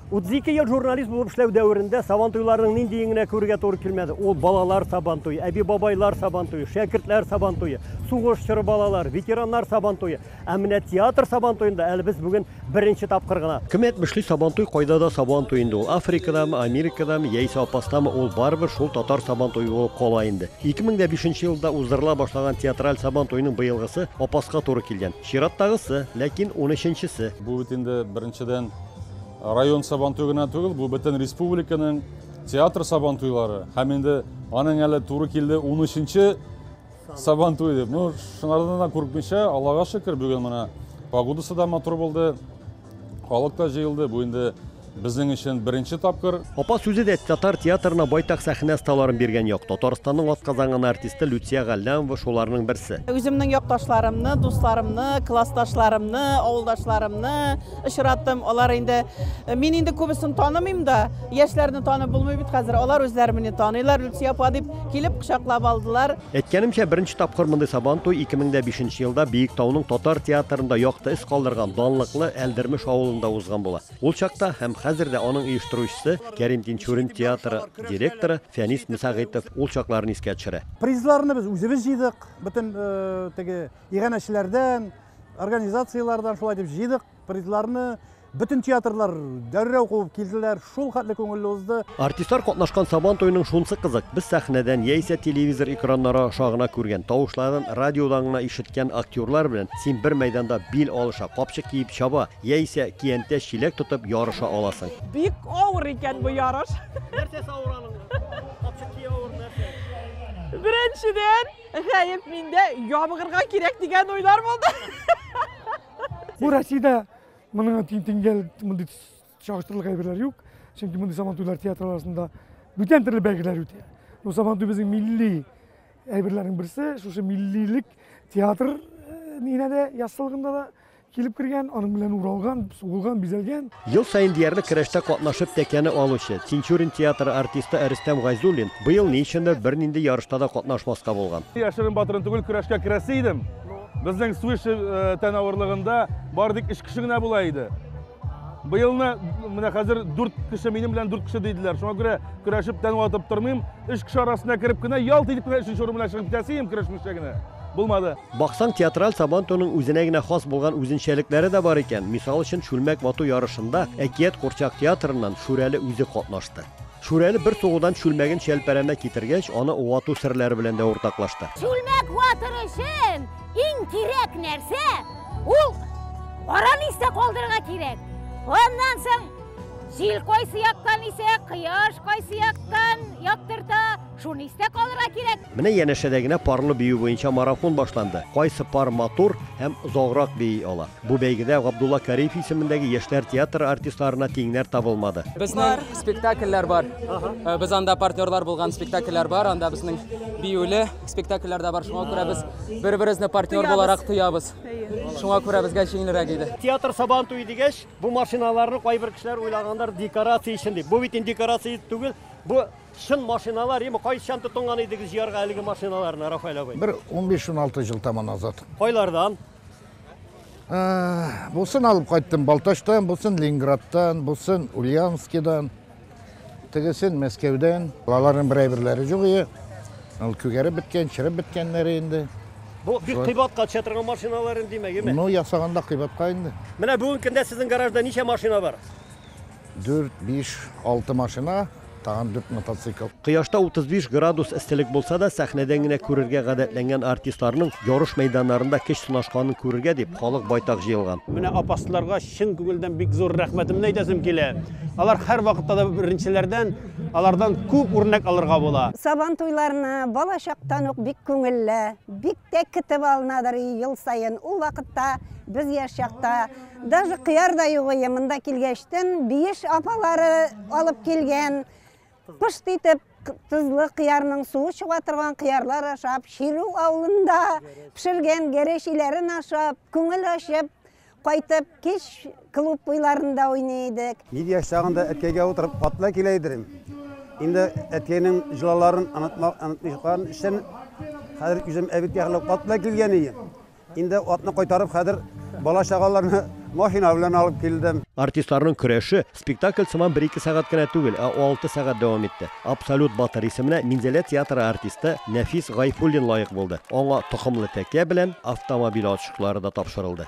32 ел журналист булып эшләү дәверендә сабантуйларның ниндиен генә күрергә туры килмәде. Ул балалар сабантуе, әби-бабайлар сабантуе, шәкертләр сабантуе, сугыш чоры балалар, ветераннар сабантуе. Ә менә театр сабантуенда әле без бүген беренче тапкыр гына. Кем әйтмешли, сабантуй кайда да сабантуй инде ул. Африкадамы, Америкадамы, яисә Апастамы, ул барыбер шул татар сабантуе булып кала инде. 2005 елда уздырыла башлаган театраль сабантуйның быелгысы Апаска туры килгән. Чираттагысы, ләкин унөченчесе. Бу бит инде беренчедән Район сабантуе гына түгел, бу бөтен республиканың театр сабантуйлары һәм инде аның әле туры килде 13-нче сабантуй дип. Ну, шунардан да курыкмыйча, Аллага шөкер, бүген менә погодасы да матур булды, халык та җыелды. Бу инде Безнең өчен беренче тапкыр. Апа сүзе дә татар театрына байтак сәхнә сталарын биргән як. Татарстанның атказанган артисты Люция Галлямова шуларның берсе. Үземнең якташларымны, дусларымны, классташларымны, авылдашларымны, очраттым. Алар инде мин инде күбесен танымыйм да, яшьләрне танып булмый бит хәзер. Алар үзләре мине таныйлар, Люция апа дип килеп кочаклап алдылар. Әйткәнемчә, беренче тапкыр мондый Сабан туй 2005 елда Биек тауның татар театрында якты эз калдырган данлыклы Әлдермеш авылында узган була. Ул чакта һәм хәзер дә аның оештыручысы Кәрим Тинчурин театры директоры Фәнис Мсәгыйтов ул чакларны искә төшерә. Призларны без үзебез җыйдык, бөтен теге иганәчеләрдән, организацияләрдән шулай дип җыйдык призларны бөтен театрлар дәррәү куып килделәр шул хәтле күңелле узды Артистлар катнашкан Сабан туеның шунсы кызык, без сәхнәдән яисә телевизор экраннары аша гына күргән, тавышларын радиодан гына ишеткән актерлар белән син бер мәйданда бил алыша, капчык киеп чаба, яисә киянтә чиләк тотып ярыша аласың. Бик авыр икән бу ярыш. Нәрсәсе авыр аның? Капчык кию авыр, нәрсә? Беренчедән, Гаеп миндә ябыгырга кирәк дигән уйлар булды. Бу Россиядә моның тиңгәл мондый чагыштырырлык әйберләр юк. Чөнки мондый Сабантуйлар театр арасында бүтән төрле бәйгеләр үтә. Бу Сабантуй безнең милли әйберләрнең берсе. Шушы миллилек театр нигенә дә яссылыгында да Килеп кергән, аның белән уралган, сугылган, бизәлгән. Ел саен диярлек көрәштә катнашып тәкәне алучы, Тинчурин театры артисты Рөстәм Гайзуллин быел ни өчендер бернинди ярышта да катнашмаска булган. Яшерен-батырын түгел, көрәшкә керәсе идем. Безнең Суиши тән авырлыгында бары тик өч кеше генә була иде. Быелны менә хәзер дүрт кеше минем белән дүрт кеше диделәр. Шуңа күрә көрәшеп тән ватып тормыйм. Өч кеше арасына кереп кенә, ялт итеп кенә өченче урын белән чыгып китәсе идем, көрәшмичә генә. Булмады. Баксаң, театраль Сабантуйның үзенә генә хас булган үзенчәлекләре дә бар икән. Мисал өчен, чүлмәк вату ярышында Әкият курчак театрыннан Шүрәле үзе катнашты. Шүрәле бер сугудан чүлмәген Чәлпәрәмә китергәч, аны вату серләре белән дә уртаклашты. Чүлмәк ватыр өчен иң кирәк нәрсә, ул каран истә калдырырга кирәк. Аннан соң җил кайсы яктан исә, кояш кайсы яктан яктырта, Шуны истә калырга кирәк. Менә янәшәдә генә парлы бию буенча марафон башланды. Кайсы пар матур һәм озаграк бии ала. Бу бәйгедә Габдулла Кариев исемендәге яшьләр театры артистларына тиңнәр табылмады. Безнең спектакльләр бар. Э, без анда партнерлар булган спектакльләр бар. Анда безнең биюле спектакльләр дә бар. Шуңа күрә без бер-беребезне партнер буларак тоябыз. Шуңа күрә безгә җиңелрәк иде. Театр сабан туй дигәч, бу машиналарны кайбер кешеләр уйлагандар декорация өчен дип. Бу бит инде декорация түгел, бу Чын машиналар ими, кайчан тотынган идегез җыярга әлеге машиналарны, Рафаэль абый? Бер 15-16 ел тама назад. Кайлардан? Ә, бусын алып кайттым Балтачтан, бусын Ленинградтан, бусын Ульяновскидан, тегесен Мәскәүдән. Аларның бер әйберләре юк ие. Ул күгәреп беткән, чиреп беткәннәре инде. Бу бик кыйбатка төшә торган машиналар инде, димәк, име? Ну, ясаганда кыйбатка инде. Менә бүгенге көндә сезнең гаражда ничә машина бар? Дүрт, биш, алты машина, тагын дүрт мотоцикл. Кояшта 35 градус эсселек булса да, сәхнәдән генә күрергә гадәтләнгән артистларның ярыш мәйданнарында көч сынашканын күрергә дип, халык байтак җыелган. Менә апасларга чын күңелдән бик зур рәхмәтемне әйтәсем килә. Алар һәрвакытта да беренчеләрдән, алардан күп үрнәк алырга була. Сабан туйларына балачактан ук бик күңелле, бик тә китеп алынадыр ел саен. Ул вакытта без яшь чакта, Даже кыяр да юк ие, монда килгәчтен биеш апалары алып килгән. Пышт итеп тозлы кыярның суы чыга торган кыярлар ашап, Ширү авылында пешергән гәрешиләрен ашап, күңел ачып кайтып, кич клуб буйларында уйный идек. Бик яшь чагында әткәйгә утырып хатта килә идем. Инде әткәйнең җылаларын онытмак онытмыйчан өчен хәзер үзем әбеккә хәлләп хатта килгән идем. Инде атны кайтарып, хәзер бала-чагаларны машина белән алып килдем. Артистларның көрәше спектакль сыман бер-ике сәгать кенә түгел, ә алты сәгать дәвам итте. Абсолют батыр исеменә Минзәлә театры артисты Нәфис Гайфуллин лаек булды. Аңа токымлы тәкә белән автомобиль ачкычлары да тапшырылды.